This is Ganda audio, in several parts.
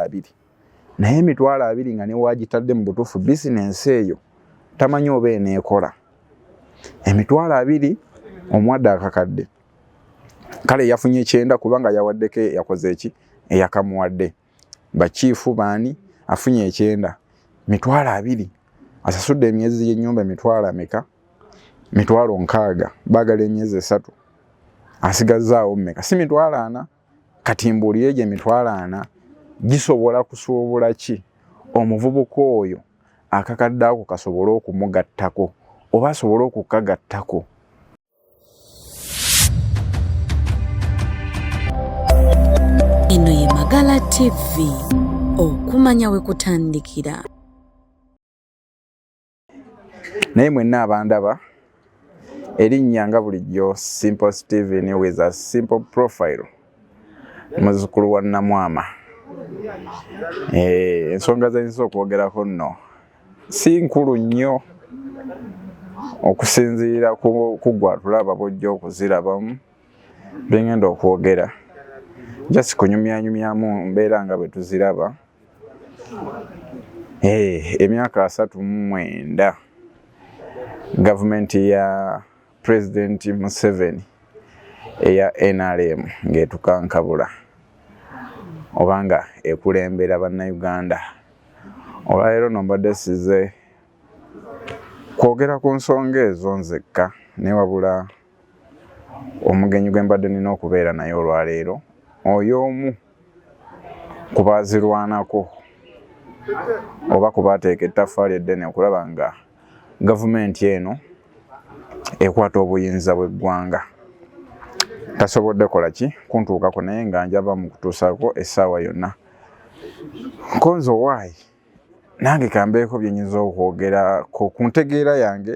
abiri naye emitwalo abiri nga newagitadde mu butuufu bizinensi eyo tamanyi oba eneekola emitwalo abiri omuwadde akakadde kale yafunye ekyenda kubanga yawaddeko yakoze eki eyakamuwadde bakiifu baani afunye ekyenda mitwalo abiri asasudde emyezi gyenyumba emitwalo ameka mitwalo nkaaga baagala emyezi esatu asigazaawo mumeka si mitwalo ana kati mbuulira egyo emitwalo ana gisobola kusuubula ki omuvubuka oyo akakadde ako kasobole okumugattako oba asobole okukagattako eno ye magala tv okumanya we kutandikira naye mwenna abandaba erinnya nga bulijjo simple steven with a simple profile muzukulu wa namwama eh, ensonga zenyinza okwogerako nno si nkulu nnyo okusinziira kugwatulaba bojja okuzirabamu byengenda okwogera jasi kunyumyanyumyamu mbeera nga bwetuziraba Eh, emyaka asatu mu mwenda gavumenti ya pulezidenti museveni eya nrm ng'etukankabula obanga ekulembera bannayuganda olwaleero no mbadde size kwogera ku nsonga ezo nzekka newabula Omugenyi gwe mbadde nina okubeera naye olwaleero oyo omu ku baazirwanako oba ku baateeka ettaffaali eddene okulaba nga gavumenti eno ekwata obuyinza bw'eggwanga tasobodde kola ki kuntuukako naye nga njava mu kutuusaako essaawa yonna nkonze owaayi nange kambeeko bye nyinza okwogerako ku ntegeera yange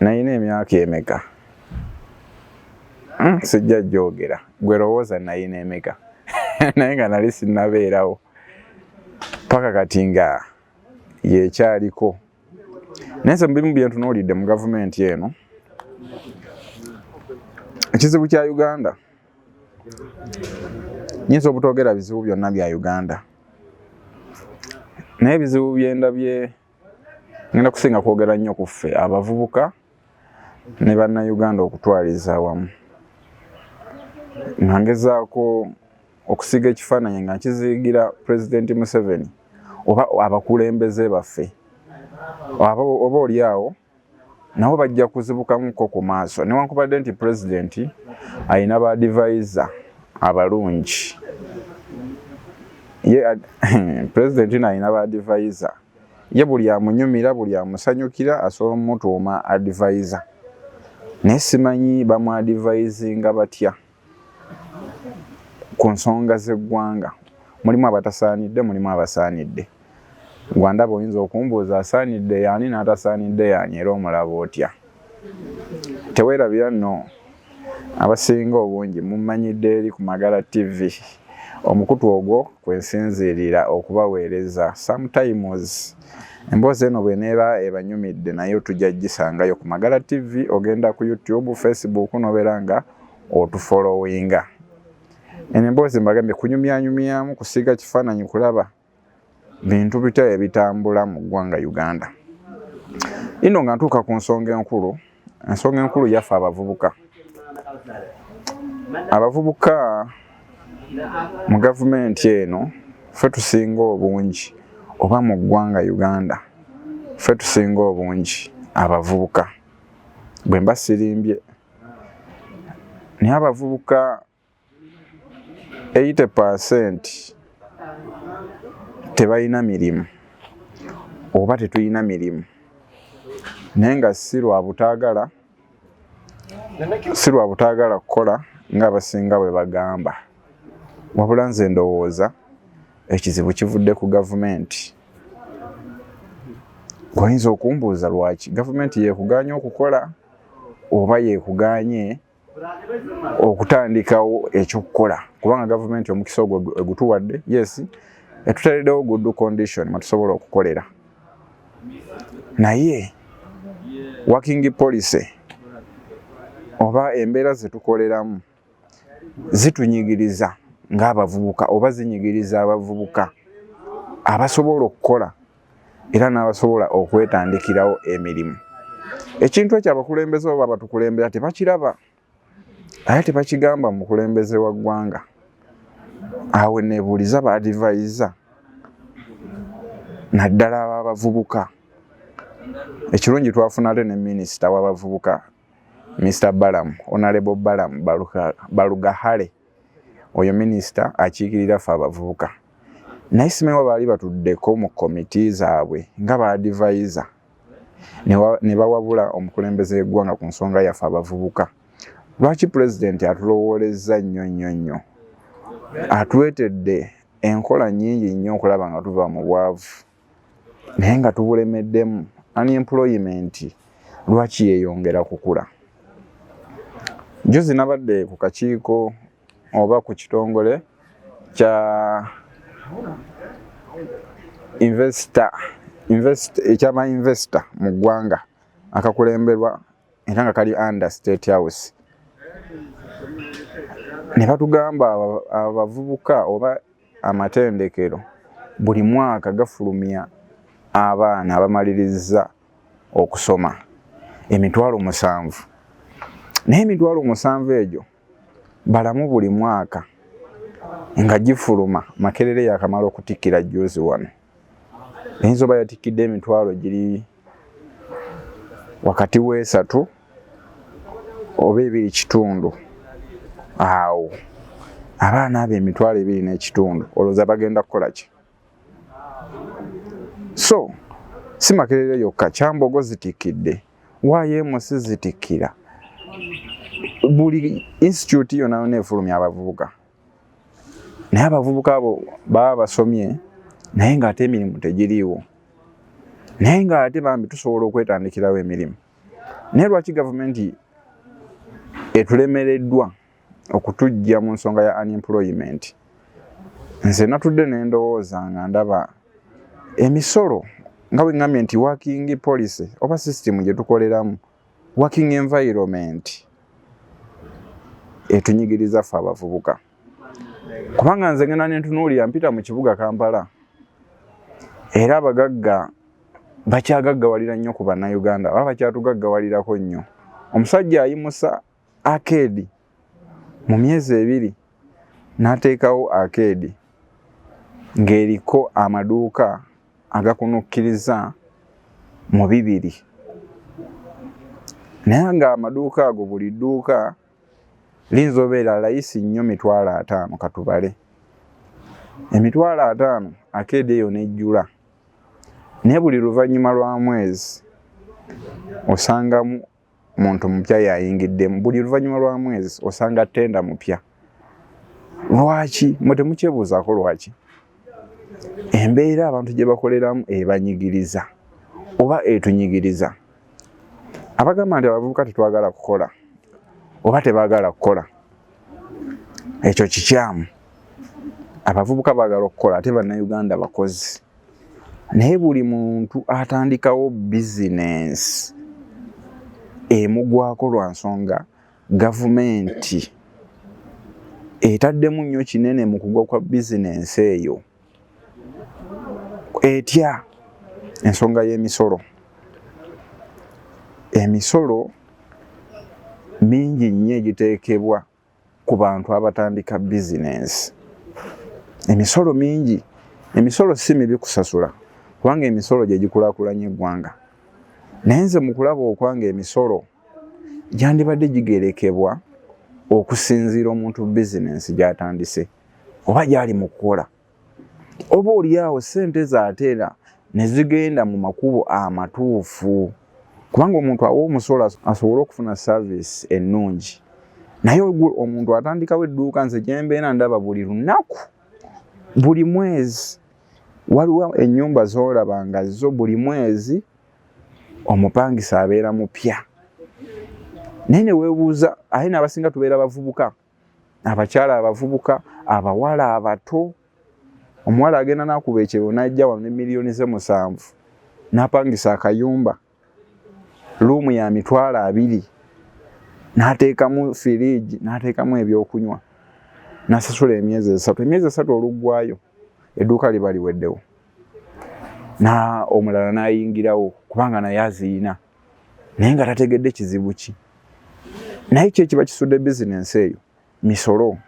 nayina emyaka emeka hmm, sijja jogera gwe lowooza nayina emeka naye nga nali sinabeerawo paka kati nga yekyaliko naye nze mubimu byentunuulidde mu gavumenti eno ekizibu kya uganda nyinza obutogera bizibu byonna bya uganda naye ebizibu byendabye ngenda kusinga kwogera nnyo ku ffe abavubuka ne bannayuganda okutwaliza awamu nga ngezaako okusiga ekifaananyi nga nkiziigira pulezidenti museveni oba abakulembeze baffe oba oli awo nabo bajja kuzibukamuko ku maaso newankubadde nti pulezidenti alina ba divaiza abalungi ye pulezidenti no alina ba divaiza ye buli amunyumira buli amusanyukira asobola omutuuma adivaiza naye simanyi bamwadivaizinga batya ku nsonga z'eggwanga mulimu abatasaanidde mulimu abasaanidde gwandaba oyinza okumbuuza asaanidde yaani n'atasaanidde yaani era omulaba otya teweerabira nno abasinga obungi mumanyidde eri ku magala tv omukutu ogwo kwensinziirira okubaweereza sometimes emboozi eno bweneeba ebanyumidde naye otujja gisangayo ku magala tv ogenda ku youtube facebook nobeera nga otufolowinga eno emboozi mbagambye kunyumyanyumyamu kusiiga kifaananyi kulaba bintu bitya ebitambula mu ggwanga uganda ino nga ntuuka ku nsonga enkulu ensonga enkulu yaffe abavubuka abavubuka mu gavumenti eno fe tusinga obungi oba mu ggwanga uganda fe tusinga obungi abavubuka bwe mba sirimbye naye abavubuka 80 percent tebalina mirimu oba tetulina mirimu naye nga si lwa butaagala si lwa butaagala kukola ng'abasinga bwe bagamba wabula nze ndowooza ekizibu kivudde ku gavumenti oyinza okumbuuza lwaki gavumenti yekuganya okukola oba yekuganye okutandikawo ekyokukola kubanga gavumenti omukisa ogwo egutuwadde yes etutereddewo good condition mwetusobola okukolera naye working policy oba embeera zetukoleramu zitunyigiriza ng'abavubuka oba zinyigiriza abavubuka abasobola okukola era n'abasobola okwetandikirawo emirimu ekintu ekyo abakulembeze oba batukulembera tebakiraba naye tebakigamba mukulembeze wa ggwanga awo nebuuliza baadivayiza naddala ababavubuka ekirungi twafuna ate ne minisita wabavubuka Mr Balaam, Honorable Balaam Balugahale, oyo minisita akiikirira ffe abavubuka naye simanyi wa baali batuddeko mu komiti zaabwe nga baadivaiza ne bawabula omukulembeze w'eggwanga ku nsonga yaffe abavubuka lwaki pulezidenti atulowoolezza nnyo nnyo nnyo atwetedde enkola nnyingi nnyo okulaba nga tuva mu bwavu naye nga tubulemeddemu unemployment lwaki yeyongera kukula juzi nabadde ku kakiiko oba ku kitongole kya investor invest ekyaba investor mu ggwanga akakulemberwa era nga kali under state house ne batugamba abavubuka oba amatendekero buli mwaka gafulumya abaana abamaliriza okusoma emitwalo musanvu naye emitwalo musanvu egyo balamu buli mwaka nga gifuluma makerere yakamala okutikkira juzi wano eyinza oba yatikkidde emitwalo giri wakati wesatu oba ebiri kitundu awo abaana abo emitwalo ebiri n'ekitundu olowooza bagenda kukola ki so si makerere yokka kyambogo zitikidde yms zitikira buli institute yona yona efulumya abavubuka naye abavubuka abo baba basomye naye ngaate emirimu tegiriiwo naye ngaate bambi tusobola okwetandikirawo emirimu naye lwaki gavumenti etulemereddwa okutujja mu nsonga ya unemployment nze natudde nendowooza nga ndaba emisolo nga bwegambye nti working policy oba system gyetukoleramu working environment etunyigiriza ffe abavubuka kubanga nze ngenda nentunuulira mpita mu kibuga kampala era abagagga bakyagaggawalira nnyo ku bannayuganda aba bakyatugaggawalirako nnyo omusajja ayimusa akeedi mu myezi ebiri n'ateekawo akeedi ng'eriko amaduuka agakunukkiriza mu bibiri naye ng'amaduuka ago buli dduuka liyinza obeera layisi nnyo mitwalo ataano katubale emitwalo ataano akeedi eyo n'ejjula naye buli luvannyuma lwa mwezi osangamu muntu mupya yayingiddemu buli luvannyuma lwa mwezi osanga tenda mupya lwaki mwe temukyebuuzaako lwaki embeera abantu gye bakoleramu ebanyigiriza oba etunyigiriza abagamba nti abavubuka tetwagala kukola oba tebagala kukola ekyo kikyamu abavubuka bagala okukola ate bannayuganda bakozi naye buli muntu atandikawo bizinensi emugwako lwa nsonga gavumenti etaddemu nnyo kinene mu kugwa kwa bizinensi eyo etya ensonga y'emisolo emisolo mingi nnyo egiteekebwa ku bantu abatandika bizinensi emisolo mingi emisolo si mibi kusasula kubanga emisolo gye gikulakulanya eggwanga naye nze mu kulaba okwanga emisolo gyandibadde gigerekebwa okusinziira omuntu bizinensi gy'atandise oba gy'ali mu kukola oba olyawo sente zateera nezigenda mu makubo amatuufu kubanga omuntu awa omusolo asobole okufuna service ennungi naye ogwe omuntu atandikawo edduuka nze gyembeera ndaba buli lunaku buli mwezi waliwo enyumba zolaba nga zo buli mwezi omupangisa abeera mupya naye newebuuza aye nabasinga tubeera bavubuka abakyala abavubuka abawala abato omuwala agenda nakuba ekyero najja wano ne miliyoni ze musanvu napangisa akayumba luumu ya mitwalo abiri nateekamu firiigi nateekamu ebyokunywa nasasula emyezi esatu emyezi esatu oluggwayo edduuka liba liweddewo na omulala nayingirawo kubanga naye aziina naye nga tategedde kizibu ki naye ki ekiba kisudde bizinensi eyo misolo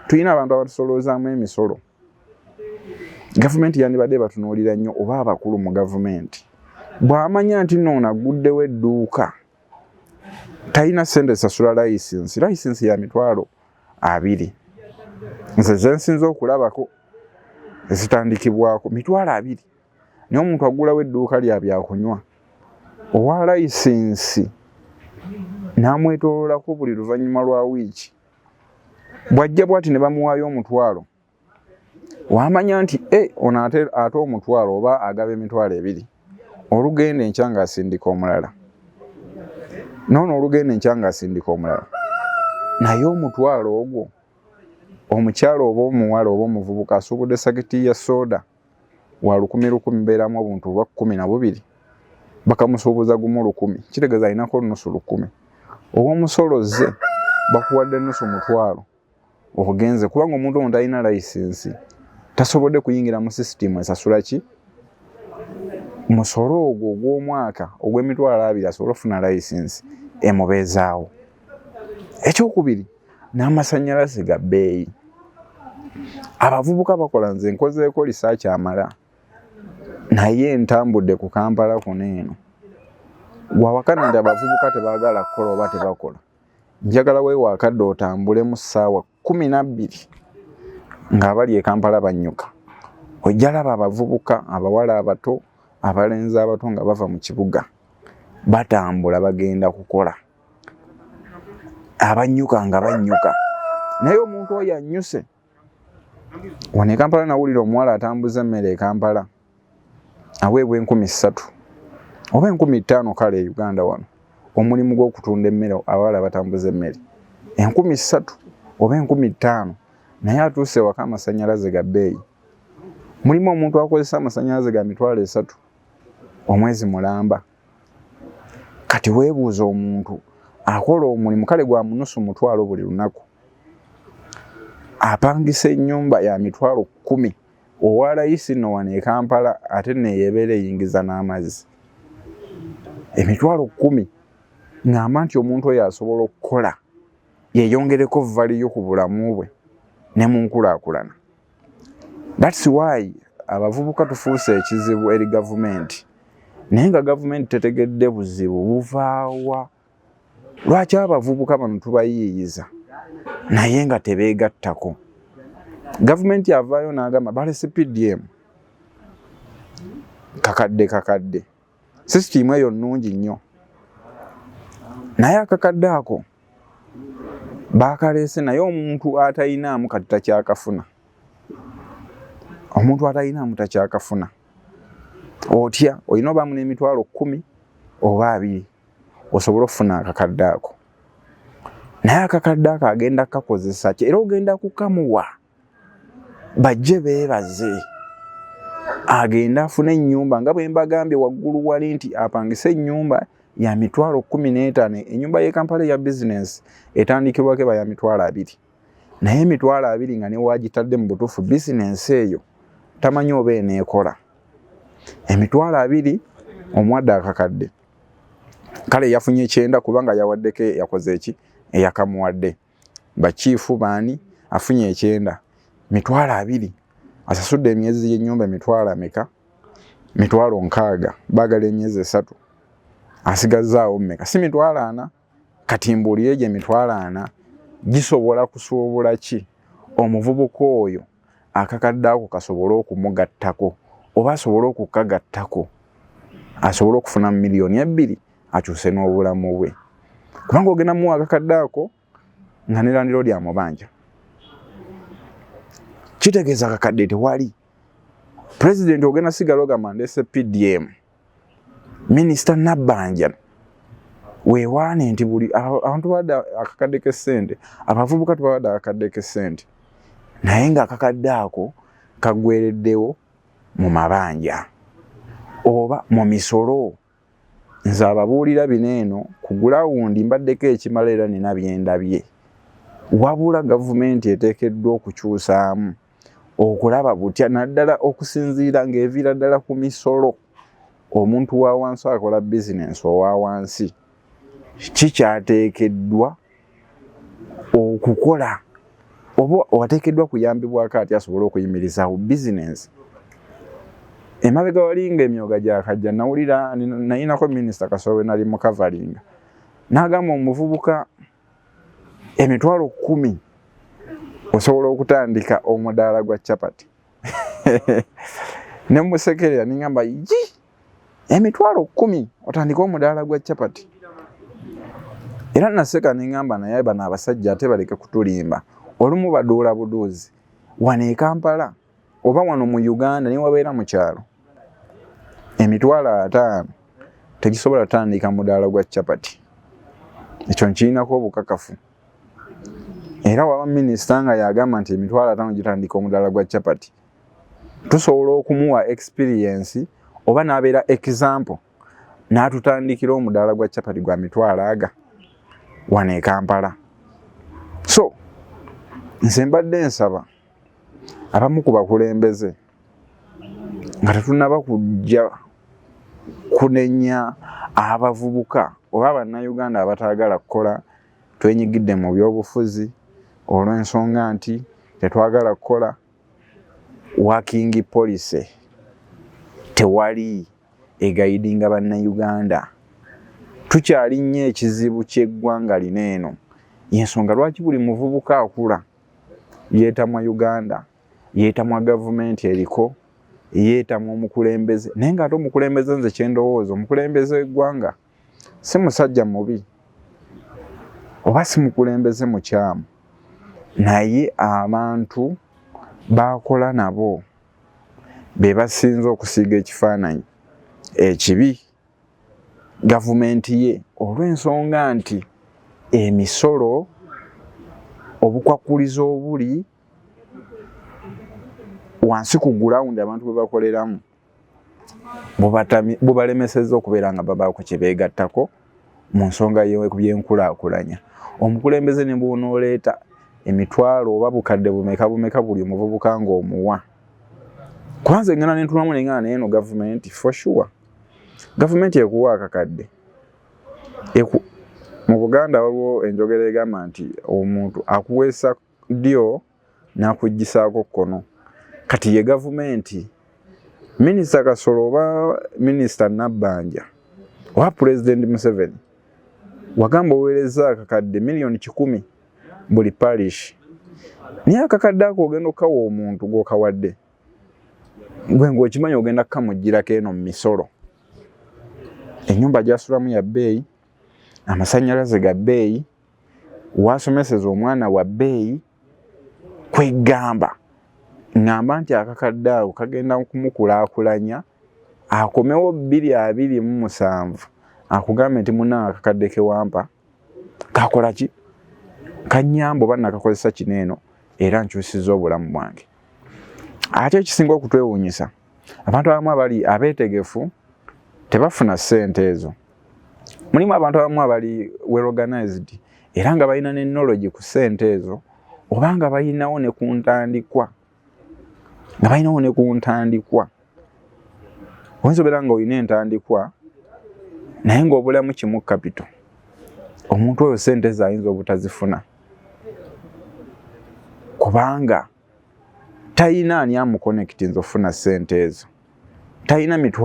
tulina abantu abatusoloozaamu emisolo gavumenti yandibadde batunuulira nnyo oba abakulu mu gavumenti bw'amanya nti noono agguddewo edduuka talina sente sasula layisinsi layisinsi ya mitwalo abiri nze zensinza okulabako ezitandikibwako mitwalo abiri naye omuntu agulawo edduuka lya byakunywa owa layisinsi n'amwetoololako buli luvannyuma lwa wiiki bw'ajja bwati ne bamuwaayo omutwalo wamanya nti e ono ate ate omutwalo oba agaba emitwalo ebiri olugenda enkya ng'asindika omulala noono olugenda enkya ng'asindika omulala naye omutwalo ogwo omukyalo oba omuwala oba omuvubuka asuubudde sakiti ya sooda wa lukumi lukumi beeramu obuntu bwa kkumi na bubiri bakamusuubuza gumu lukumi kitegeeza alinako nusu lukumi ow'omusolo zze bakuwadde nusu mutwalo ogenze kubanga omuntu omu talina layisinsi tasobodde kuyingira mu sisitimu esasula ki musolo ogwo ogw'omwaka ogw'emitwalo abiri asobole okufuna layisinsi emubeezaawo ekyokubiri n'amasannyalaze ga bbeeyi abavubuka bakola nze nkozeeko lisaaki amala naye ntambudde ku kampala kuno eno wawakana nti abavubuka tebaagala kukola oba tebakola njagala weewaakadde otambule mu ssaawa kumi nabbiri ng'abali e kampala bannyuka ojjalaba abavubuka abawala abato abalenzi abato nga bava mu kibuga batambula bagenda kukola abannyuka nga bannyuka naye omuntu oyo annyuse wano ekampala nawulira omuwala atambuza emmere ekampala aweebwa enkumi ssatu oba enkumi ttaano kale e uganda wano omulimu gw'okutunda emmere abawala batambuza emmere enkumi ssatu oba enkumi ttaano naye atuuse ewaka amasanyalaze ga bbeeyi mulimu omuntu akozesa amasanyalaze ga mitwalo esatu omwezi mulamba kati webuuza omuntu akola omulimu kale gwa munusu mutwalo buli lunaku apangisa enyumba ya mitwalo kumi owalayisi no wano e kampala ate neyebeera eyingiza n'amazzi emitwalo kumi ngamba nti omuntu oyo asobola okukola yeyongereko valiyo ku bulamu bwe ne munkulakulana That's why abavubuka tufuuse ekizibu eri gavumenti naye nga gavumenti tetegedde buzibu buvaawa lwaki abavubuka bano tubayiiyiza naye nga tebeegattako gavumenti avaayo n'agamba balese pdm kakadde kakadde sisitiimu eyo nnungi nnyo naye akakadde ako baakaleese naye omuntu atalinaamu kati takyakafuna omuntu atalinaamu takyakafuna otya olina obaamu n'emitwalo kkumi oba abiri osobola okufuna akakadde ako naye akakadde ako agenda kukakozesa ki era ogenda kukamuwa bajje beebaze agenda afuna ennyumba nga bwe mbagambye waggulu wali nti apangise ennyumba ya mitwalo kumi n'etaano ennyumba y'e kampala eya bizinensi etandikirwako eba ya mitwalo abiri naye emitwalo abiri nga newagitadde mu butuufu bizinensi eyo tamanyi oba eneekola emitwalo abiri omuwadde akakadde kale yafunye ekyenda kubanga yawaddeko yakoze eki eyakamuwadde e bakiifu baani afunye ekyenda mitwalo abiri asasudde emyezi y'ennyumba emitwalo ameka mitwalo nkaaga baagala emyezi esatu asigazzaawo meka si mitwalo ana kati mbuulire gye mitwalo ana gisobola kusuubula ki omuvubuka oyo akakadde ako kasobole okumugattako oba asobole okukagattako asobole okufuna miliyoni ebbiri akyuse n'obulamu bwe kubanga ogenda muwa akakadde ako nga nelandiro lyamubanja kitegeeza akakadde tewali pulezidenti ogenda sigala ogamba ndese pdm minisita nabbanja wewaane nti buli abantu bade akakadde kesente abavubuka tubabadde akakadde kesente naye nga akakadde ako kagwereddewo mu mabanja oba mu misolo nze ababuulira bino eno ku gulawundi mbaddeko ekimala era nina byendabye wabula gavumenti eteekeddwa okukyusaamu okulaba butya naddala okusinziira ng'eviira ddala ku misolo omuntu wa wansi akola bizinensi owa wansi kikyateekeddwa okukola oba wateekeddwa kuyambibwako ati asobole okuyimirizaawo bizinensi emabega walinga emyoga gyakajja nawulira nayinako minisita kasowe nali mukavalinga nagamba omuvubuka emitwalo kumi osobola okutandika omudaala gwa chapati ne musekerera ningamba yi emitwalo kumi otandika omudaala gwa chapati era naseka nengamba naye bano abasajja ate baleke kutulimba olumu baduula buduuzi wano ekampala oba wano mu uganda newabeera mu kyalo emitwalo ataano tegisobola tandika mudaala gwa capati ekyo nkirinako obukakafu era waba minisita nga yagamba nti emitwalo ataano gitandika omudaala gwa capati tusobola okumuwa experiensi oba nabeera example natutandikira omudaala gwa capati gwa mitwalo aga wano ekampala so nze mbadde nsaba abamu ku bakulembeze nga tetunaba kujja kunenya abavubuka oba bannayuganda abataagala kukola twenyigidde mu byobufuzi olw'ensonga nti tetwagala kukola working policy tewali egayidinga bannayuganda tukyali nnyo ekizibu ky'eggwanga lino eno yensonga lwaki buli muvubuka akula yeetamwa uganda yeetamwa gavumenti eriko yeetamwa omukulembeze naye ngaate omukulembeze nze kyendowooza omukulembeze w'eggwanga si musajja mubi oba si mukulembeze mukyamu naye abantu baakola nabo be basinza okusiiga ekifaananyi ekibi gavumenti ye olw'ensonga nti emisolo obukwakulizo obuli wansi ku gulawundi abantu bwe bakoleramu bubalemeseza okubeera nga babaako kye beegattako mu nsonga y'ebyenkulaakulanya omukulembeze ne bwonooleeta emitwalo oba bukadde bumeka bumeka buli omuvubuka ng'omuwa kwanza engana nentunamu nengana naye no gavumenti for sure gavumenti ekuwa akakadde eku mu buganda waliwo enjogera egamba nti omuntu akuweesa ddyo nakuggisaako kkono kati ye gavumenti minisita kasolo oba minisita nabbanja oba pulezidenti museveni wagamba oweereza akakadde miliyoni kikumi buli parish naye akakadde ako ogenda okukawa omuntu gwokawadde gwe ngaokimanyi ogenda kukamugirako eno mu misolo enyumba gyasulamu ya bbeeyi amasanyalaze ga bbeeyi wasomeseza omwana wa bbeeyi kwegamba ngamba nti akakadde ako kagenda kumukulakulanya akomewo bbiri abiri mu musanvu akugambe nti muna akakadde kewampa kakola ki kanyambo banna kakozesa kino eno era nkyusiza obulamu bwange ate ekisinga okutwewuunyisa abantu abamu abali abeetegefu tebafuna ssente ezo mulimu abantu abamu abali weorganized era nga balina ne nologi ku ssente ezo oba nga balinawo ne ku ntandikwa nga balinawo ne ku ntandikwa oyinza obeera nga olina entandikwa naye ngaobulamu kimu kapito omuntu oyo sente zayinza obutazifuna kubanga talina ani amukonekiti nza okufuna sente ezo talina mitwa